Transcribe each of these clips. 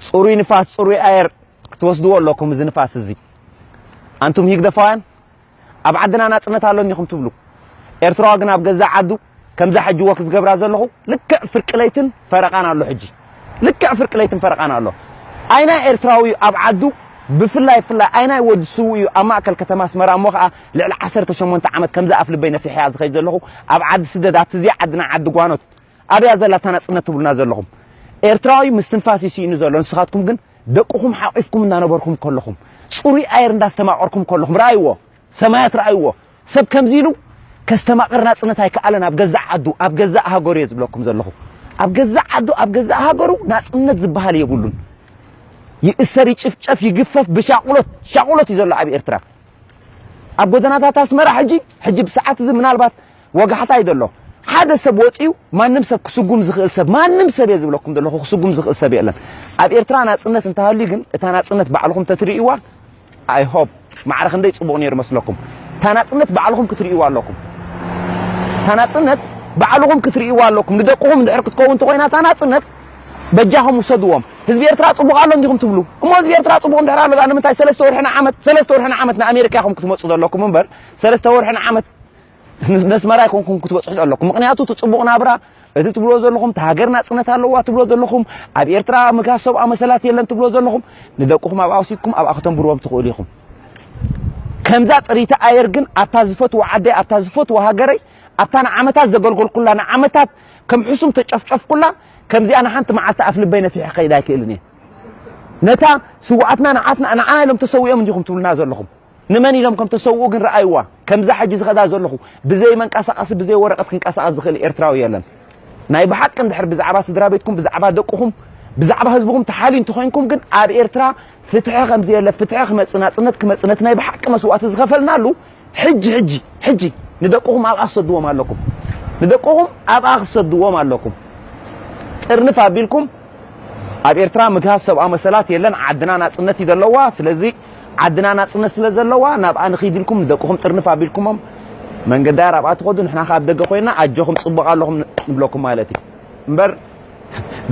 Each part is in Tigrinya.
ፅሩይ ንፋስ ፅሩይ ኣየር ክትወስድዎ ኣለኩም እዚ ንፋስ እዚ ኣንቱም ሂግደፋውያን ኣብ ዓድና ናፅነት ኣሎ እኒኹም ትብሉ ኤርትራዋ ግን ኣብ ገዛእ ዓዱ ከምዛ ሕጂ ወክ ዝገብራ ዘለኹ ልክዕ ፍርቂ ለይትን ፈረቓን ኣሎ ሕጂ ልክዕ ፍርቂ ለይትን ፈረቓን ኣሎ ኣይናይ ኤርትራዊ ኣብ ዓዱ ብፍላይ ፍላይ ኣይናይ ወዲ ስውእ እዩ ኣብ ማእከል ከተማ ኣስመራ እሞ ከዓ ልዕሊ ዓሰርተ ሸሞንተ ዓመት ከምዚ ኣፍልበይ ነፊሐያ ዝኸይድ ዘለኹ ኣብ ዓዲ ስደት ኣብቲ ዘይዓድና ዓዲ ጓኖት ኣብያ ዘላ እታ ናጽነት ትብሉና ዘለኹም ኤርትራዊ ምስትንፋስ እዩ ስኢኑ ዘሎ ንስኻትኩም ግን ደቅኹም ሓቂፍኩም እናነበርኩም ከለኹም ጽሩይ ኣየር እንዳስተማቐርኩም ከለኹም ረኣይዎ ሰማያት ረኣይዎ ሰብ ከምዚ ኢሉ ከስተማቕር ናጽነት ኣይከኣለን ኣብ ገዛእ ዓዱ ኣብ ገዛእ ሃገሩ እየ ዝብለኩም ዘለኹ ኣብ ገዛእ ዓዱ ኣብ ገዛእ ሃገሩ ናጽነት ዝበሃል የብሉን ይእሰር ይጭፍጨፍ ይግፈፍ ብሻቑሎት ሻቑሎት እዩ ዘሎ ኣብ ኤርትራ ኣብ ጎደናታት ኣስመራ ሕጂ ሕጂ ብሰዓት እዚ ምናልባት ወጋሕታ እዩ ዘሎ ሓደ ሰብ ወጽዩ ማንም ሰብ ክስጉም ዝኽእል ሰብ ማንም ሰብ እየ ዝብለኩም ዘለኹ ክስጉም ዝኽእል ሰብ የለን ኣብ ኤርትራ ናጽነት እንተሃልዩ ግን እታ ናጽነት ባዕልኹም ተትርእይዋ ኣይ ሆፕ ማዕረ ክንደይ ጽቡቕ ነይሩ መስለኩም እታ ናጽነት ባዕልኹም ክትርእይዋ ኣለኩም እታ ናጽነት ባዕልኹም ክትርእይዋ ኣለኩም ንደቅኹም እንድሕር ክትከውን ተኾይና እታ ናጽነት በጃኹም ውሰድዎም ህዝቢ ኤርትራ ጽቡቕ ኣሎ እንዲኹም ትብሉ እሞ ህዝቢ ኤርትራ ጽቡቕ እንድሕር ኣሎ ድኣ ንምንታይ ሰለስተ ወርሒ ንዓመት ሰለስተ ወርሒ ንዓመት ንኣሜሪካ ኢኹም ክትመጹ ዘለኩም እምበር ሰለስተ ወርሒ ንዓመት ነስመራ ኣይኮንኩም ክትበጽሑ ዘለኩም ምክንያቱ እቲ ጽቡቕ ናብራ እቲ ትብሎ ዘለኹም እቲ ሃገር ናጽነት ኣለዋ ትብሎ ዘለኹም ኣብ ኤርትራ ምግሃስ ሰብኣ መሰላት የለን ትብሎ ዘለኹም ንደቅኹም ኣብኣ ወሲድኩም ኣብኣ ከተንብርዎም ትኽእሉ ኢኹም ከምዛ ጥሪቲ ኣየር ግን ኣብታ ዝፈትዎ ዓደይ ኣብታ ዝፈትዎ ሃገረይ ኣብታ ንዓመታት ዘገልገልኩላ ንዓመታት ከም ሕሱም ተጨፍጨፍኩላ ከምዚኣ ንሓንቲ መዓልቲ ኣፍ ልበይ ነፊሐ ክኸይድ ኣይክእልን እየ ነታ ስውኣትና ንዓትና ንዓና ኢሎም ተሰዊኦም እንዲኹም ትብሉና ዘለኹም ንመን ኢሎም ከም ተሰውኡ ግን ረኣይዋ ከምዛ ሕጂ ዝኸዳ ዘለኹ ብዘይ መንቀሳቐሲ ብዘይ ወረቐት ክንቀሳቐስ ዝኽእል ኤርትራዊ የለን ናይ ብሓቂ እንድሕር ብዛዕባ ስድራ ቤትኩም ብዛዕባ ደቅኹም ብዛዕባ ህዝብኹም ተሓልዩ እንተኾይንኩም ግን ኣብ ኤርትራ ፍትሒ ከምዘየለ ፍትሒ ክመጽእ ናጽነት ክመጽእ ነቲ ናይ ብሓቂ መስዋእቲ ዝኸፈልናሉ ሕጂ ሕጂ ሕጂ ንደቅኹም ኣብኣ ክሰድዎም ኣለኩም ንደቅኹም ኣብኣ ክሰድዎም ኣለኩም ጥርንፍ ኣቢልኩም ኣብ ኤርትራ ምግሃስ ሰብኣዊ መሰላት የለን ዓድና ናጽነት እዩ ዘለዋ ስለዚ ዓድና ናጽነት ስለ ዘለዋ ናብኣ ንኺድ ኢልኩም ንደቅኹም ጥርንፍ ኣቢልኩሞም መንገዲ ኣየር ኣብኣ ትኸዱ ንሕና ካብ ደገ ኮይና ኣጆኹም ጽቡቕ ኣለኹም ንብለኩም ማለት እዩ እምበር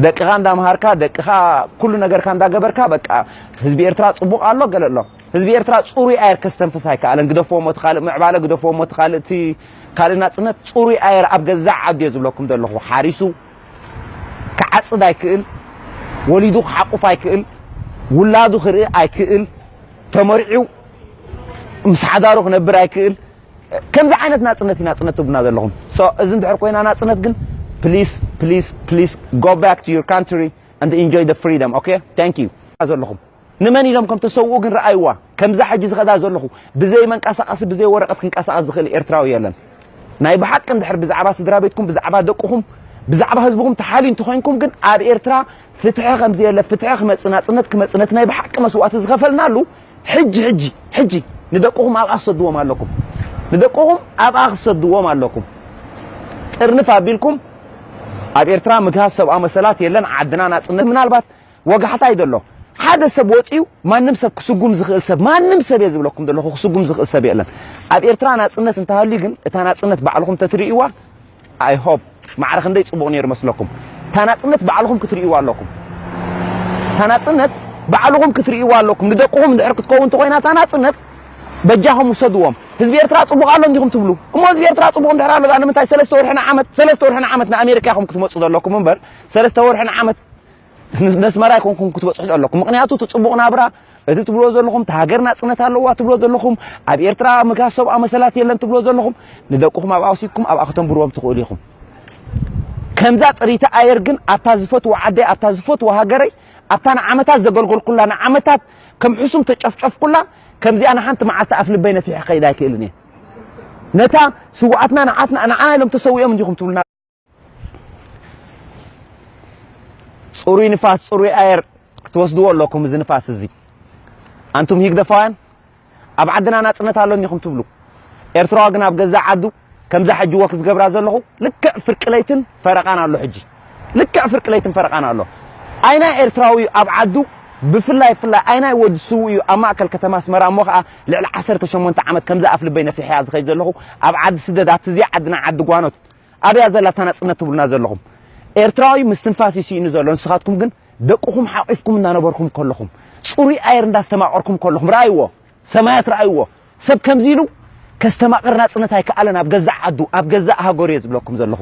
ደቅኻ እንዳምሃርካ ደቅኻ ኩሉ ነገርካ እንዳገበርካ በቃ ህዝቢ ኤርትራ ጽቡቕ ኣሎ ገለ ኣሎ ህዝቢ ኤርትራ ጽሩይ ኣየር ከስተንፍስ ኣይከኣለን። ግደፍዎ እሞ እቲ ካልእ ምዕባለ፣ ግደፍዎ እሞ እቲ ካልእ እቲ ካልእ ናጽነት፣ ጽሩይ ኣየር ኣብ ገዛእ ዓዱ'የ ዝብለኩም ዘለኹ። ሓሪሱ ክዓጽድ ኣይክእል፣ ወሊዱ ክሓቁፍ ኣይክእል፣ ውላዱ ክርኢ ኣይክእል፣ ተመርዕዩ ምስ ሓዳሩ ክነብር ኣይክእል። ከምዚ ዓይነት ናጽነት እዩ ናጽነት ትብሉና ዘለኹም። ሶ እዚ እንድሕር ኮይና ናጽነት ግን ፕሊስ ፕሊስ ፕሊስ ጎ ባክ ቱ ዩር ካንትሪ ኣንድ ኢንጆይ ዘ ፍሪደም ኦኬ ታንክ ዩ ዘለኹም። ንመን ኢሎም ከም ተሰውኡ ግን ረኣይዋ ከምዛ ሕጂ ዝኸዳ ዘለኹ ብዘይ መንቀሳቐሲ ብዘይ ወረቐት ክንቀሳቐስ ዝኽእል ኤርትራዊ የለን ናይ ብሓቂ እንድሕር ብዛዕባ ስድራቤትኩም ብዛዕባ ደቅኹም ብዛዕባ ህዝብኹም ተሓልዩ እንተኾይንኩም ግን ኣብ ኤርትራ ፍትሒ ከም ዘየለ ፍትሒ ክመጽእ ናጽነት ክመጽእ ነቲ ናይ ብሓቂ መስዋእቲ ዝኸፈልናሉ ሕጂ ሕጂ ሕጂ ንደቅኹም ኣብኣ ክሰድዎም ኣለኩም ንደቅኹም ኣብኣ ክሰድዎም ኣለኩም ጥርንፍ ኣቢልኩም ኣብ ኤርትራ ምግሃስ ሰብኣዊ መሰላት የለን ዓድና ናጽነት ምናልባት ወጋሕታ እዩ ዘሎ ሓደ ሰብ ወጺኡ ማንም ሰብ ክስጉም ዝኽእል ሰብ ማንም ሰብ እየ ዝብለኩም ዘለኹ ክስጉም ዝኽእል ሰብ የለን ኣብ ኤርትራ ናጽነት እንተሃልዩ ግን እታ ናጽነት ባዕልኹም ተትርእይዋ ኣይ ሆፕ ማዕረ ክንደይ ጽቡቕ ነይሩ መስለኩም እታ ናጽነት ባዕልኹም ክትርእይዋ ኣለኩም እታ ናጽነት ባዕልኹም ክትርእይዋ ኣለኩም ንደቅኹም እንድሕር ክትከውን ተኾይና እታ ናጽነት በጃኹም ውሰድዎም ህዝቢ ኤርትራ ጽቡቕ ኣሎ እንዲኹም ትብሉ እሞ ህዝቢ ኤርትራ ጽቡቕ እንድሕር ኣሎ ንምንታይ ሰለስተ ወርሕን ዓመት ሰለስተ ወርሕን ዓመት ንኣሜሪካ ኢኹም ክትመጹ ዘለኩም እምበር ሰለስተ ወርሕን ዓመት መስመር ኣይኮንኩም ክትበጽሑ ዘለኩም ምክንያቱ እቲ ጽቡቅ ናብራ እቲ ትብሎ ዘለኹም እቲ ሃገር ናጽነት ኣለዋ ትብሎ ዘለኹም ኣብ ኤርትራ ምግሃስ ሰብኣዊ መሰላት የለን ትብሎ ዘለኹም ንደቅኹም ኣብኣ ወሲድኩም ኣብኣ ከተንብርዎም ትኽእሉ ኢኹም ከምዛ ጥሪቲ ኣየር ግን ኣብታ ዝፈትዎ ዓደይ ኣብታ ዝፈትዎ ሃገረይ ኣብታ ንዓመታት ዘገልገልኩላ ንዓመታት ከም ሕሱም ተጨፍጨፍኩላ ከምዚኣ ንሓንቲ መዓልቲ ኣፍ ልበይ ነፊሐ ከይድ ኣይክእልን እየ ነታ ስውኣትና ንዓትና ንዓና ኢሎም ተሰዊኦም እንዲኹም ትብሉና ፅሩይ ንፋስ ፅሩይ ኣየር ክትወስድዎ ኣለኩም እዚ ንፋስ እዚ ኣንቱም ሂግደፋውያን ኣብ ዓድና ናፅነት ኣሎኒ ኢኹም ትብሉ ኤርትራዋ ግን ኣብ ገዛእ ዓዱ ከምዛ ሕጂ ወክ ዝገብራ ዘለኹ ልክዕ ፍርቂ ለይትን ፈረቓን ኣሎ ሕጂ ልክዕ ፍርቂ ለይትን ፈረቓን ኣሎ ኣይናይ ኤርትራዊ እዩ ኣብ ዓዱ ብፍላይ ፍላይ ኣይናይ ወዲ ስው እዩ ኣብ ማእከል ከተማ ኣስመራ እሞ ከዓ ልዕሊ ዓሰርተ ሸሞንተ ዓመት ከምዚ ኣፍ ልበይ ነፊሐያ ዝኸይድ ዘለኹ ኣብ ዓዲ ስደት ኣብቲ እዚኣ ዓድና ዓዲ ጓኖት ኣበያ ዘላ እታ ናጽነት ትብሉና ዘለኹም? ኤርትራዊ ምስትንፋስ እዩ ስኢኑ ዘሎ፣ ንስኻትኩም ግን ደቅኹም ሓቚፍኩም እንዳነበርኩም ከለኹም፣ ጽሩይ ኣየር እንዳስተማቐርኩም ከለኹም፣ ርኣይዎ ሰማያት ርኣይዎ፣ ሰብ ከምዚ ኢሉ ከስተማቕር ናጽነት ኣይከኣለን ኣብ ገዛእ ዓዱ ኣብ ገዛእ ሃገሩ እየ ዝብለኩም ዘለኹ።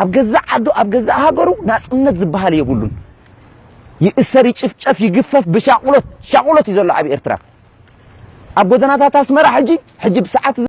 ኣብ ገዛእ ዓዱ ኣብ ገዛእ ሃገሩ ናጽነት ዝበሃል የብሉን። ይእሰር ይጭፍጨፍ ይግፈፍ ብሻቑሎት ሻቑሎት እዩ ዘሎ ኣብ ኤርትራ። ኣብ ጎደናታት ኣስመራ ሕጂ ሕጂ ብሰዓት